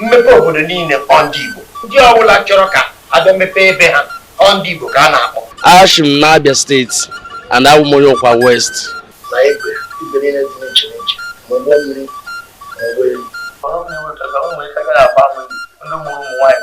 mmepe obodo niile ọ ndị Igbo ndị ọbụla chọrọ ka a bịa mepee ebe ha ọ ndị Igbo ka a na-akpọ ashi m n'Abia steeti and abụ m onye Ukwa West na igwe igwe niile dị n'iche n'iche ma ụgbọ mmiri ma ụgbọelu ọrụ na-enweta ka ụmụ ike gara agba ndị mụrụ ụmụ nwaanyị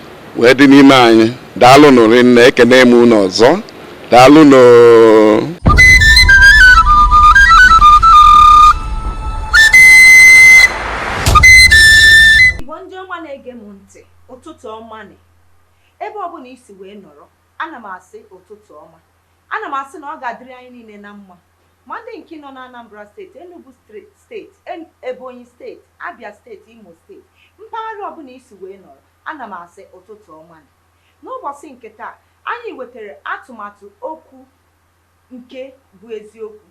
wee dị n'ime anyị daalụ nụ rinne ekene m unu ọzọ daalụ nụ igbo ndị ọma na-ege m ntị ụtụtụ ọma nị ebe ọbụla i si wee nọrọ ana m asị ụtụtụ ọma ana m asị na ọ ga-adịrị anyị niile na mma Ma ndị nke nọ n'Anambra steeti, Enugwu steeti, Ebonyi steeti, Abia steeti, Imo steeti, mpaghara ọbụla i si wee nọrọ, ana m asị ụtụtụ ọma nụ. N'ụbọchị nke taa, anyị wetara atụmatụ okwu nke bụ eziokwu.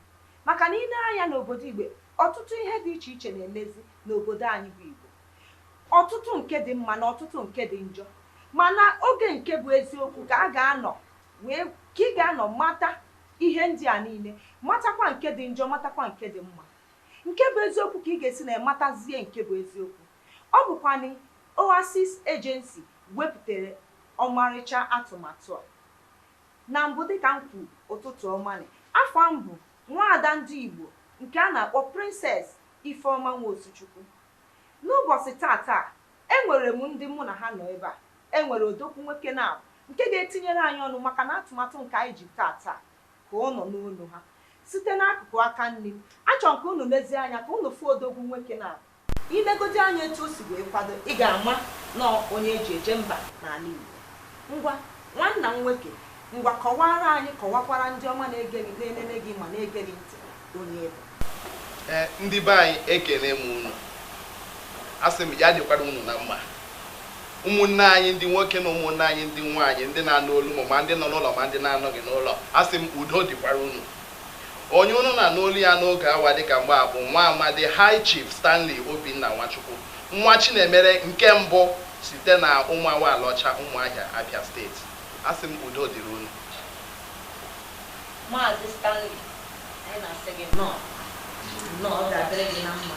Maka na i lee anya n'obodo Igbo, ọtụtụ ihe dị iche iche na-emezi n'obodo anyị bụ Igbo. Ọtụtụ nke dị mma na ọtụtụ nke dị njọ. Mana oge nke bụ eziokwu ka a ga-anọ Wee ka ị ga-anọ mata ihe ndị a niile, matakwa nke dị njọ, matakwa nke dị mma. Nke bụ eziokwu ka ị ga-esi na ya matazie nke bụ eziokwu. Ọ bụkwanụ Oasis Agency wepụtara ọmarịcha atụmatụ a. Na mbụ dịka m kwuru, ụtụtụ ọma nị. Afa m bụ nwaada ndị Igbo nke a na-akpọ Princess Ifeoma Nwosuchukwu. N'ụbọchị taata a, e nwere m ndị mụ na ha nọ ebe a. E nwere odogwu nwoke naabụ nke ga-etinyere anyị ọnụ maka na atụmatụ nke anyị ji taata a ka ọ nọ n'ọnụ ha. Site n'akụkụ aka nri m, achọrọ m ka unu lezie anya ka unu fụ odogwu nwoke naabụ. I legodi anya etu o si wee kwado, ị ga-ama na ọ onye e ji eje mba n'ala Igbo. Ngwa, nwanna m nwoke, ngwa kọwaara anyị, kọwakwara ndị ọma na-ege gị, na-enene gị ma na-ege gị ntị. onye ị bụ ee ndị be anyị ekele m unu asị m ya dịkwara unu na mma ụmụnne anyị ndị nwoke na ụmụnne anyị ndị nwaanyị ndị na-anụ olu m ma ndị nọ n'ụlọ ma ndị na-anọghị n'ụlọ asị m udo dịkwara unu onye unu na-anụ olu ya n'oge awa dịka mgbe a bụ nwa amadi high chief stanley obinna nwachukwu nwachinemere nke mbụ site na ụmụawa alaọcha ụmụahịa abia steeti asị m udo dịrị unu maazị stanley anyị na-asị gị nnọọ nnọọ ọ ga-adịrị gị na mma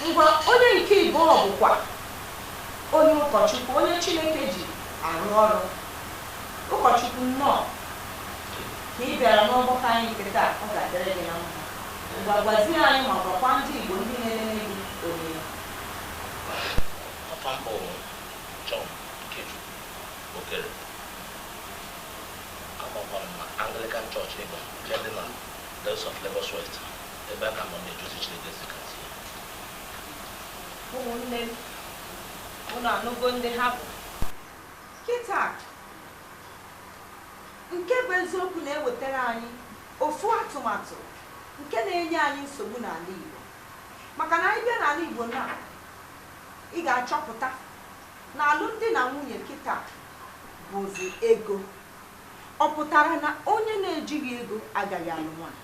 ngwa onye nke ịbụọ bụkwa onye ụkọchukwu onye chineke ji arụ ọrụ ụkọchukwu nnọọ ka ị bịara n'ọgbakọ anyị nke taa ọ ga-adịrị gị na mma ngwa gwazie anyị ma gwakwa ndị igbo ndị na-elele gị onye ị bụ afa m bụ John Ikechukwu Okere Amakwara m na Anglican Church Igba nke dị na Diocese of Lagos West, ebe a ka ọ nọ na-eje ozi Chineke si ka zie. Ụmụnne m, unu anụgo ndị ha bụ. Kịta, nke bụ eziokwu na-ewetara anyị ofu atụmatụ nke na-enye anyị nsogbu n'ala Igbo. Maka na anyị bịa n'ala Igbo na ị ga-achọpụta na alụmdi na nwunye kịta bụzi ego. Ọ pụtara na onye na-ejighị ego agaghị alụ nwaanyị.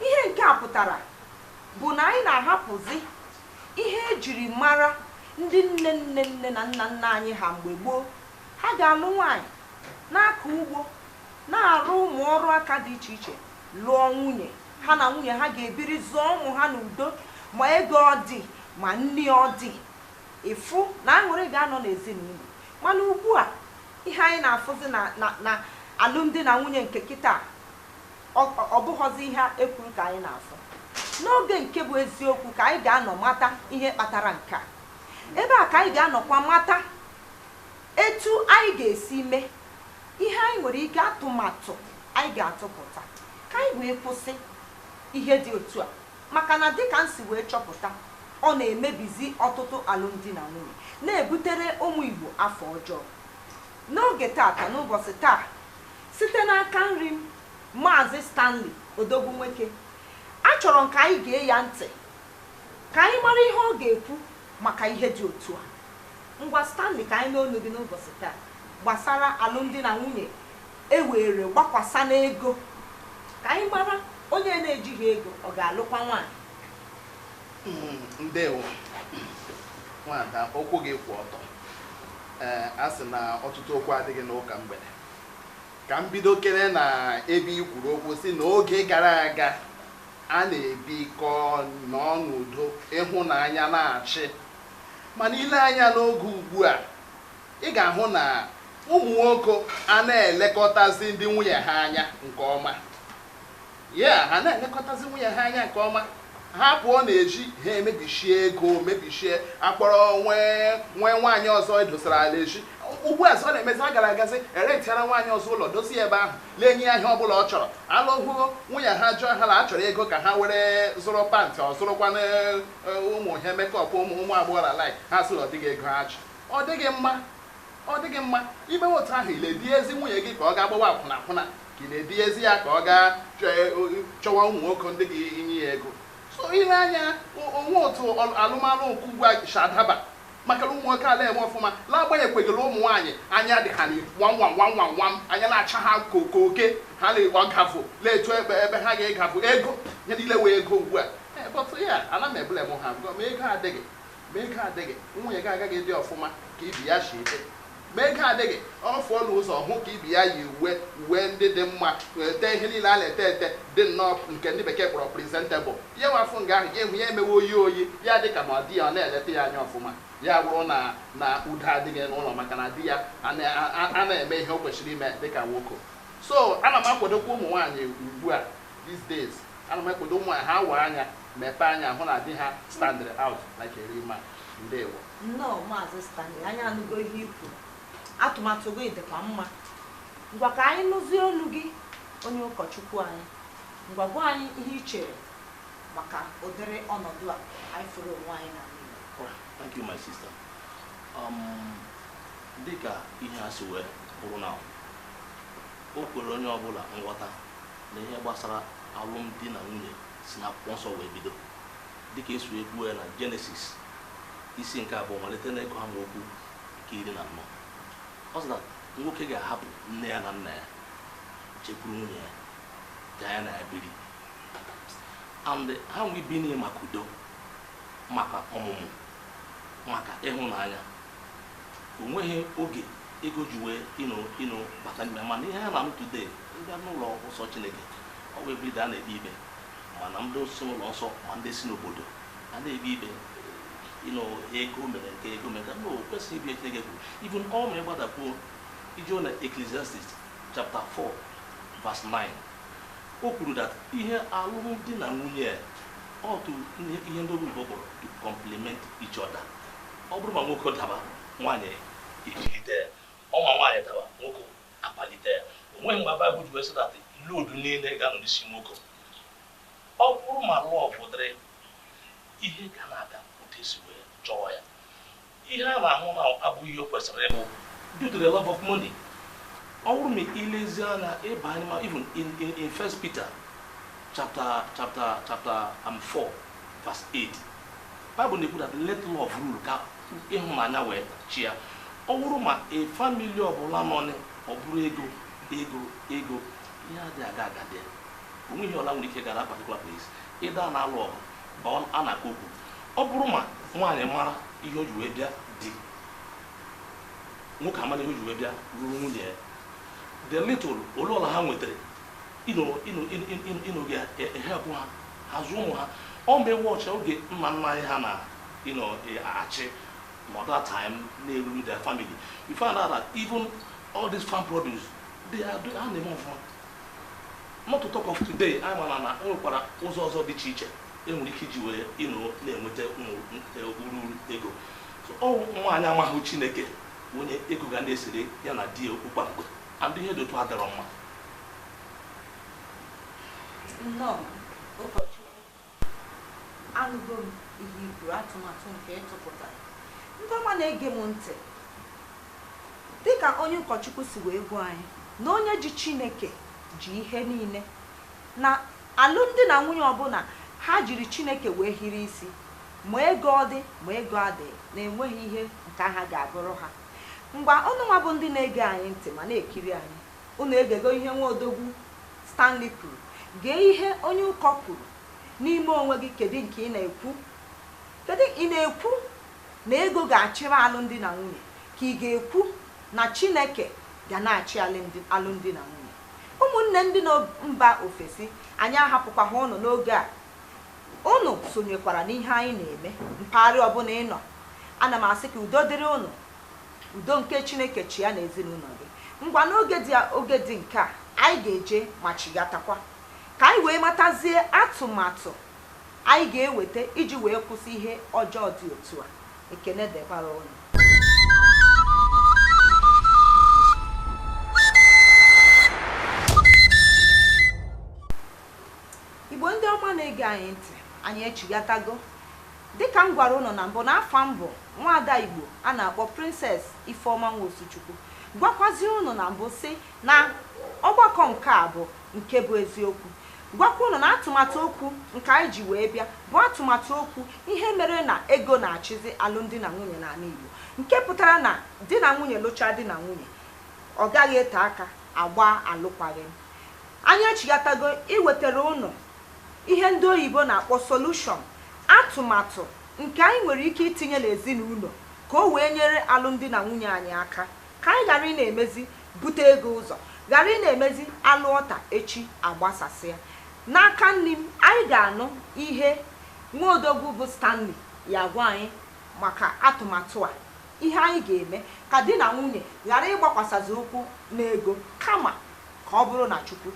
Ihe nke a pụtara bụ na anyị na-ahapụzi ihe e jiri mara ndị nne nne nne na nna nna anyị ha mgbe gboo. Ha ga-alụ nwaanyị, na-akọ ugbo, na-arụ ụmụ ọrụ aka dị iche iche, lụọ nwunye. Ha na nwunye ha ga-ebiri, zụọ ụmụ ha n'udo, ma ego ọ dị ma nri ọ dị. ị fụ na aṅụrị ga-anọ n'ezinụlọ mana ugbu a ihe anyị na-afụzi na na na alụmdi na nwunye nke kịta ọ ọ bụghọzi ihe e kwuru ka anyị na-afụ n'oge nke bụ eziokwu ka anyị ga-anọ mata ihe kpatara nke a ebe a ka anyị ga-anọkwa mata etu anyị ga-esi mee ihe anyị nwere ike atụmatụ anyị ga-atụpụta ka anyị wee kwụsị ihe dị otu a maka na dịka m si wee chọpụta, ọ na-emebizi ọtụtụ alụmdi na nwunye, na-ebutere ụmụ Igbo afa ọjọọ. N'oge taata, n'ụbọsị taa, site n'aka nri m, Maazị Stanley odogwu nwoke, achọrọ m ka anyị gee ya ntị ka anyị mara ihe ọ ga-ekwu maka ihe dị otu a. Ngwa Stanley, ka anyị nụ ọnụ gị n'ụbọsị taa gbasara alụmdi na nwunye E were gbakwasa n'ego ka anyị mara onye na-ejighị ego ọ ga-alụkwa nwaanyị. Mm, ndewo nwada okwu gị kwụ ọtọ ee a sị na ọtụtụ okwu adịghị n'ụka mgbede ka m bido kere na ebe i kwuru okwu sị na oge gara aga a na-ebikọ nọọ n'udo ịhụnanya na-achị mana i lee anya n'oge ugbu a ị ga-ahụ na ụmụ nwoke a na-elekọtazi ndị nwunye ha anya nke ọma ya ha na-elekọtazi nwunye ha anya nke ọma ha pụọ n'ezi ha mebichie ego mebichie a kpọrọ nwee nwee nwaanyị ọzọ edosara ala eji ugbu a ọ na-emezi a gara agazi erentiara nwaanyị ọzọ ụlọ dozie ya ebe ahụ na-enye ya ihe ọ bụla ọ chọrọ alụhụ nwunye ha jụọ ha na ha chọrọ ego ka ha were zụrụ pant or zụrụkwanụ e, ụmụ ihe makeup ụmụ ụmụ agbọghọ ala ha sị na ọ dịghị ego ha ji Ọ dịghị mma, ọ dịghị mma. I mewe otu ahụ, ị na-eduhiezi nwunye gị ka ọ gaa gbawa akwụna akwụna, ka ị na-eduhiezi ya ka ọ gaa chọ- e- o- chọwa ụmụ nwoke ndị ga-enye ya ego. So i lee anya, o- o nwe otu ọl- alụmalụ nke ugbu a si adaba maka na ụmụ nwoke ala eme ọfụma n'agbanyeghịkwegịrị ụmụ nwaanyị anya dị ha nwanwanwanwanwam anya na-acha ha ka oke oke ha na-egba gavụ na-etu ebe ebe ha ga-egavụ ego ya niile wee ego ugbu a Eh, but ya ana m ebule m ha gụọ ma ego adịghị Ma ego adịghị, nwunye gị agaghị ịdị ọfụma ka ibe ya si dị. Ma ego adịghị, ọ fụọ n'ụzọ hụ ka ibe ya yi uwe uwe ndị dị mma, tee ihe niile a na-ete ete dị nnọọ nke ndị bekee kpọrọ presentable. Ya wafụ nga ahụ, ya ihu ya emewe oyi oyi, ya dị ka ma di ya ọ na-eleta ya anya ọfụma. Ya bụrụ na na udo adịghị n'ụlọ maka na di ya a na-eme ihe o kwesịrị ime dị ka nwoke. So ana m akwadokwa ụmụ nwaanyị ugbu a These days, ana m akwado ụmụ nwaanyị ha waa anya mepee anya hụ na di ha standịrị out like a real man. Ndewo. Nnọọ Maazị Stanley, anyị anụgo ihe i kwuru. Atụmatụ gị dịkwa mma. Ngwa ka anyị nụzie olu gị onye ụkọchukwu anyị. Ngwa gwa anyị ihe i chere maka ụdịrị ọnọdụ a anyị fụrụ onwe anyị n'ime ya. Alright, Thank you, my sister. Um, dịka ihe a si wee bụrụ na o kwere onye ọbụla nghọta na ihe gbasara alụmdi na nwunye si na akwụkwọ nsọ wee bido dịka e si kwuo ya na jenesis isi nke abụọ malite na ịgụ amaokwu nke iri na anọ ọ sị na nwoke ga-ahapụ nne ya na nna ya jekwuru nwunye ya ka ya na ya biri and ha nwee ibi n'ihi maka udo maka ọmụmụ maka ịhụnanya o nweghị oge ego ji wee you know bata n'ime mana ihe anyị na-anụ today a bịa n'ụlọ nsọ chineke ọ bụ everyday a na-ekpe ikpe mana ndị si n'ụlọ nsọ ma ndị si n'obodo a na-ekpe ikpe you know ego mere nke ego mere ka o kwesịrị ibi chineke kwuru even ọ ma ị gbadakwuo i jee na ecclesiastes chapter 4 verse 9 o kwuru that ihe alụmdi na nwunye a ọ bụ ihe ndị oyibo kpọrọ to complement each other ọ bụrụ ma nwoke daba nwaanyị ejigide ya ọ ma nwaanyị daba nwoke akpalite ya o nweghị mgbe baịbụl ji wee sị that load niile ga-anọ n'isi nwoke ọ bụrụ ma love dịrị ihe ga na-aga otu e si wee chọọ ya ihe a na-ahụ na abụghị ihe o kwesịrị ịbụ due to the love of money ọ bụrụ ma i lezie anya ị banye ma even in, in, in first peter chapter chapter chapter um, 4 Verse 8 Bible na-ekwu that let love rule ka ịhụnanya wee chịa ọ bụrụ ma a family ọbụla nọ nị, ọ bụrụ ego ego ego ihe adịghị aga aga dị o nwee ihe ọla nwere ike gara particular place ịda a na-alụ ọgụ ma ọ- a na-akọ okwu ọ bụrụ ma nwaanyị mara ihe o ji wee bịa di nwoke amara ihe o ji wee bịa lụrụ nwunye ya the little ole ọla ha nwetara ịnụ ịnụ ga-ehepụ ha ha zụọ ụmụ ha ọ mgbe watch oge nna nna anyị ha na-achị ma that time na-erule their family we found out that even all these farm produce they are doing ha na-eme ọfụma not to talk of today anyị mara na o nwekwara ụzọ ọzọ dị iche iche e nwere ike iji wee ịnụ na-enweta ụmụ ururu ego so ọ nwaanyị amaghị chineke wụ onye ego ga na-esere ya na di ya okwu kwa mgbe and ihe dị otu a dịrọ mma nnọọ ụkọchukwu anụgo m ihe i kwuru atụmatụ nke ị tụpụta ndị ọma na-ege m ntị dịka onye ụkọchukwu si wee gwa anyị na onye ji chineke ji ihe niile na alụmdi na nwunye ọbụla ha jiri chineke wee hiri isi ma ego ọ dị ma ego adịghị na e nweghị ihe nke ahụ ga-abụrụ ha Ngwa, unu nwa bụ ndị na-ege anyị ntị ma na-ekiri anyị, unu egego ihe nwa odogwu Stanley kwuru. Gee ihe onye ụkọ kwuru. N'ime onwe gị, kedụ nke ị na-ekwu? Kedụ, ị na-ekwu na ego ga-achịrị alụmdi na nwunye ka ị ga-ekwu na Chineke ga na-achị alụmdi na nwunye? Ụmụnne ndị nọ mba ofesi, anyị ahapụkwaghị ụnụ n'oge a. Ụnụ sonyekwara n'ihe anyị na-eme mpaghara ọbụla ị nọ. Ana m asị ka udo dịrị ụnụ. Udo nke Chineke chịa n'ezinụlọ gị. Ngwa n'ụdị oge dị nke a, anyị ga-eje ma chighatakwa ka anyị wee matazie atụmatụ anyị ga-eweta iji wee kwụsị ihe ọjọọ dị otu a. Ekene dịkwara ụnụ. Igbo ndị ọma na-ege anyị ntị, anyị echighatago. Dịka m gwara ụnụ na mbụ na afa m bụ nwaada Igbo a na-akpọ Princess Ifeoma Nwosuchukwu. Gwakwazie ụnụ na mbụ sị na ọgbakọ nke a bụ nke bụ eziokwu. Gwakwa ụnụ na atụmatụ okwu nke anyị ji wee bịa bụ atụmatụ okwu ihe mere na ego na-achịzi alụmdi na nwunye n'ala Igbo. Nke pụtara na di na nwunye lụchaa di na nwunye, ọ gaghị ete aka a gbaa alụkwaghịm. Anyị echighatago iwetara unu ihe ndị oyibo na-akpọ solution, atụmatụ nke anyị nwere ike itinye n'ezinaụlọ ka o wee nyere alụmdi na nwunye anyị aka, ka anyị ghara ị na-emezi bute ego ụzọ, ghara ị na-emezi a lụọ taa echi agbasasịa. N'aka nri m, anyị ga-anụ ihe nwa odogwu bụ Stanley ya agwa anyị maka atụmatụ a. Ihe anyị ga-eme ka di na nwunye ghara ịgbakwasazị ụkwụ n'ego kama ka ọ bụrụ na Chukwu.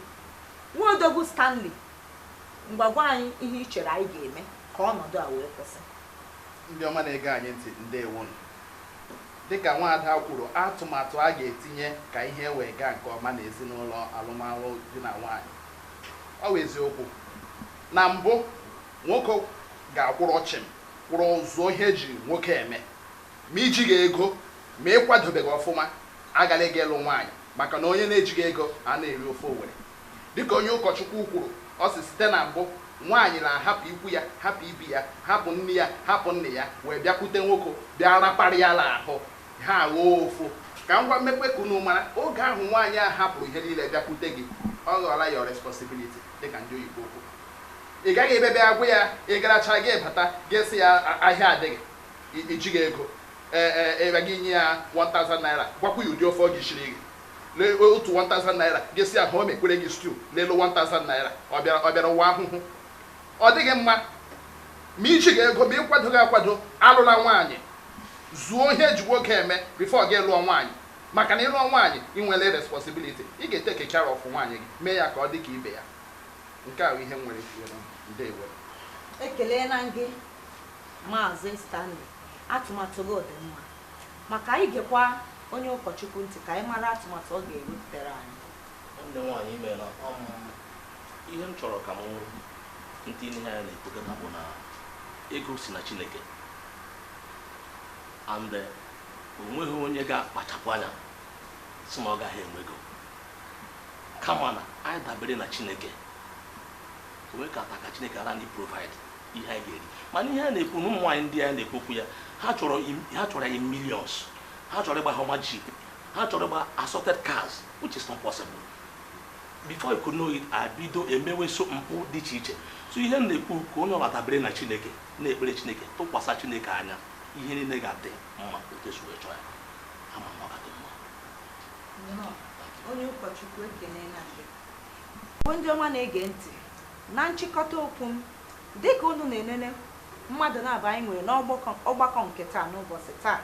Nwa odogwu Stanley, ngwa gwa anyị ihe i chere anyị ga-eme ka ọnọdụ a wee kwụsị. Ndị ọma na-ege anyị ntị, ndewonụ. Dịka nwaada kwuru, atụmatụ a ga-etinye ka ihe wee gaa nke ọma n'ezinaụlọ alụmalụ di na nwaanyị. Ọ wụ eziokwu na mbụ, nwoke ga-akwụrụ chịm, kwụrụ zuo ihe e ji nwoke eme. Ma i jighị ego, ma ị kwadobeghị ọfụma, agala ịga ịlụ nwaanyị maka na onye na-ejighị ego ana-eri ofe Owere. Dịka onye ụkọchukwu kwuru, ọ sị site na mbụ, nwaanyị na-ahapụ ikwu ya, hapụ ibi ya, hapụ nne ya, hapụ nna ya wee bịakwute nwoke bịa rapara ya n'ahụ, ha aghọọ ofu. Ka m gwa mekwe ka unu mara, oge ahụ nwaanyị a hapụrụ ihe niile bịakwute gị, ọ ghọọla your responsibility dịka ndị oyibo kwuru. Ị gaghị ebe bịa gwa ya ị garachaa gị bata, gị sị ya ahịa adịghị. I jighị ego ee ee ịra gị nye ya 1000 naira gwakwa ya ụdị ofe ọ ga-esiri gị lee otu 1000 naira gị sị ya ọ mekwere gị stew n'elu 1000 naira ọ bịara ọ bịara ụwa ahụhụ ọ dịghị mma ma i jighị ego ma ị kwadoghị akwado alụla nwaanyị zuo ihe e ji nwoke eme before gị lụọ nwaanyị maka na ị lụọ nwaanyị ị nwere responsibility ị ga-etake care of nwaanyị gị mee ya ka ọ dị ka ibe ya nke ahụ ihe m nwere kwuo nna ndewo ekelela m gị Maazị Stanley, atụmatụ gị dị mma, ma ka anyị gekwa onye ụkọchukwu ntị ka anyị mara atụmatụ ọ ga-ewepụtara anyị. Nwanne nwaanyị imeela um, ihe m chọrọ ka m tii n'ihe anyị na-ekwukọta bụ na ego si na Chineke and eh, o nweghị onye ga-akpachapụ anya sị na ọ gaghị enwe ego kama na anyị dabere na Chineke onwe ka ata ka Chineke ara anyị provide ihe anyị ga-eri mana ihe a na-ekwu na ụmụ nwaanyị ndị a na-ekwu okwu ya ha chọrọ im- ha chọrọ anyị millions ha chọrọ ịgba Hummer jeep ha chọrọ ịgba assorted cars which is not possible before you could know it a bido emewe so mpụ dị iche iche so ihe m na-ekwu ka onye ọbụla dabere na chineke na-ekpere chineke tụkwasị chineke anya ihe niile ga-adị mma otu e si wee chọọ ya ama m na ọ ga-adị mma Nnọọ. onye ụkọchukwu ekene na gị bụ ndị ọma na-ege ntị Na nchịkọta okwu m, dịka unu na-enene mmadụ naabọ anyị nwere n'ọgbakọ ọgbakọ nke taa n'ụbọsị taa,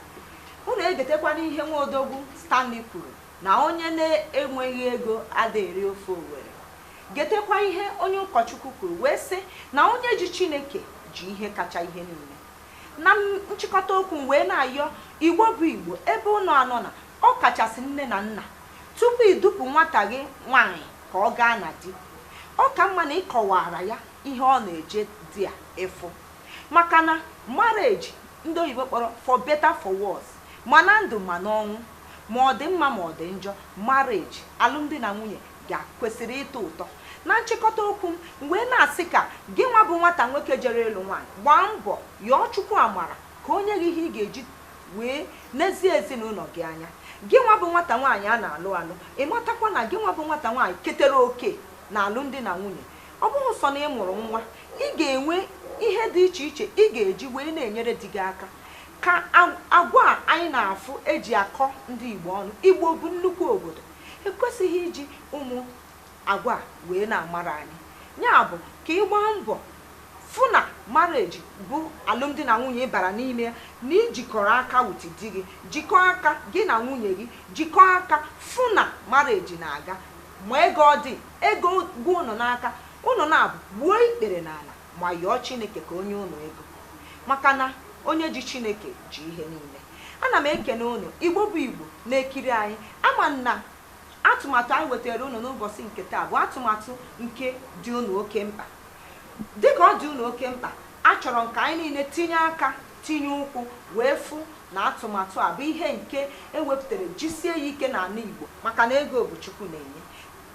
unu egetekwana ihe nwa odogwu Stanley kwuru na onye na-enweghị ego ada eri ofe Owere. Getekwa ihe onye ụkọchukwu kwuru wee sị na onye ji Chineke ji ihe kacha ihe niile. Na m- nchịkọta okwu m wee na-ayọ Igbo bụ Igbo ebe unu anọ na ọ kachasị nne na nna tupu idupụ nwata gị nwaanyị ka ọ gaa na di ọ ka mma na ị kọwaara ya ihe ọ na-eje di a ịfụ maka na marriage ndị oyibo kpọrọ for better for worse ma na ndụ ma n'ọnwụ ma ọ dị mma ma ọ dị njọ marriage alụmdi na nwunye ga-kwesịrị ịtọ ụtọ na nchịkọta okwu m wee na-asị ka gị nwa bụ nwata nwoke jere ịlụ nwaanyị gbaa mbọ yọọ chukwu amara ka o nye gị ihe ị ga-eji wee nezie ezinụlọ gị anya gị nwa bụ nwata nwaanyị a na-alụ alụ ị matakwa na gị nwa bụ nwata nwaanyị ketere oke na alụmdi na nwunye ọ bụrọ sọ na ị mụrụ nwa ị ga-enwe ihe dị iche iche ị ga-eji wee na-enyere di gị aka ka agwa a anyị na-afụ e ji akọ ndị Igbo ọnụ Igbo bụ nnukwu obodo ekwesịghị iji ụmụ Agwa wee na-amara anyị. Ya bụ, ka ị gbaa mbọ fụ na marriage bụ alụmdi na nwunye ị bara n'ime ya, na i jikọrọ aka with di gị, jikọọ aka gị na nwunye gị, jikọọ aka fụ na marriage na-aga. Ma ego ọ dị, ego gwụ unu n'aka, unu naabọ gbuo ikpere n'ala ma yọọ Chineke ka o nye unu ego. Maka na onye ji Chineke ji ihe niile. Ana m ekene unu, Igbo bụ Igbo na-ekiri anyị. Ama m na Atụmatụ anyị wetaara unu n'ụbọsị nke taa bụ atụmatụ nke dị unu oke mkpa. Dị ka ọ dị unu oke mkpa, achọrọ m ka anyị niile tinye aka, tinye ụkwụ wee fụ na atụmatụ a bụ ihe nke e wepụtara jisie ya ike n'ala Igbo maka na ego bụ Chukwu na-enye.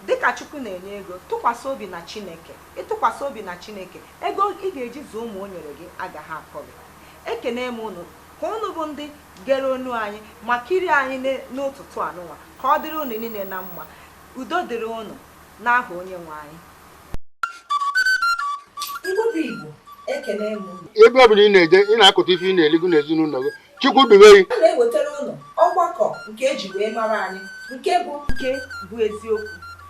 Dị ka Chukwu na-enye ego, tụkwasị obi na Chineke. Ị tụkwasị obi na Chineke, ego ị ga-eji zụọ ụmụ o nyere gị agaghị akọ gị. Ekenee m unu Ka unu bụ ndị gere onu anyị ma kirie anyị ne- n'ụtụtụ anụnwa, ka ọ dịrị unu niile na mma. Udo dịrị unu n'aha Onyenwe anyị. Igbo bụ Igbo, ekele m unu. ebe ọ bụla ị na-eje ị na-akụta ife ị na-eligo n'ezinụlọ gị chukwu dube gị A na-ewetara unu ọgbakọ nke e ji wee mara anyị nke bụ nke bụ eziokwu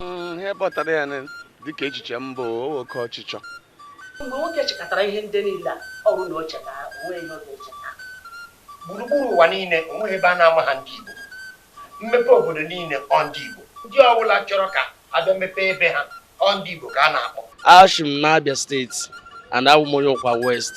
hmm, ihe kpọtara ya dịka echiche m bụ oke ọchịchọ mgbe nwoke chịkọtara ihe ndị niile a ọrụ na o cheta onwe ihe oge cheta gburugburu ụwa niile o nweghị ebe a na-amaha ndị Igbo mmepe obodo niile ọ ndị Igbo ndị ọbụla chọrọ ka a bịa mepee ebe ha ọ ndị Igbo ka a na-akpọ eshi m na Abia State and awụ m onye Ukwa West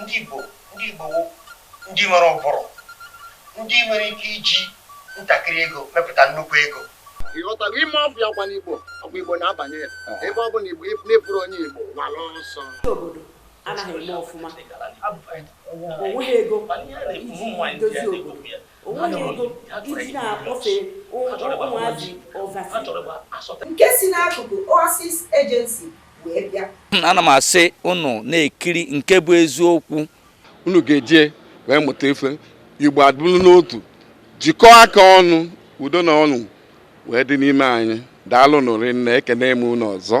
Ndị Igbo, ndị Igbo wụ ndị nwere ụbụrụ, ndị nwere ike iji ntakịrị ego mepụta nnukwu ego. Ị ghọtago ime ọfịa ọkwa n'Igbo, ọkwa Igbo na-abanye ya. Ebe ọ bụla Igbo n'ịbụrụ onye Igbo gbara ọsọ. Ndị obodo anaghị eme ọfụma, o nweghị ego iji dozie obodo, o nweghị ego e ji na-akpọfe ụmụazị oversea. Nke si n'akụkụ Oasis Agency wee bịa hmm, ana m asị unu na-ekiri nke bụ eziokwu unu ga-eje wee mụta ife Igbo adịrị n'otu jikọọ aka ọnụ udo na ọṅụ wee dị n'ime anyị daalụ nụ rinne ekene m unu ọzọ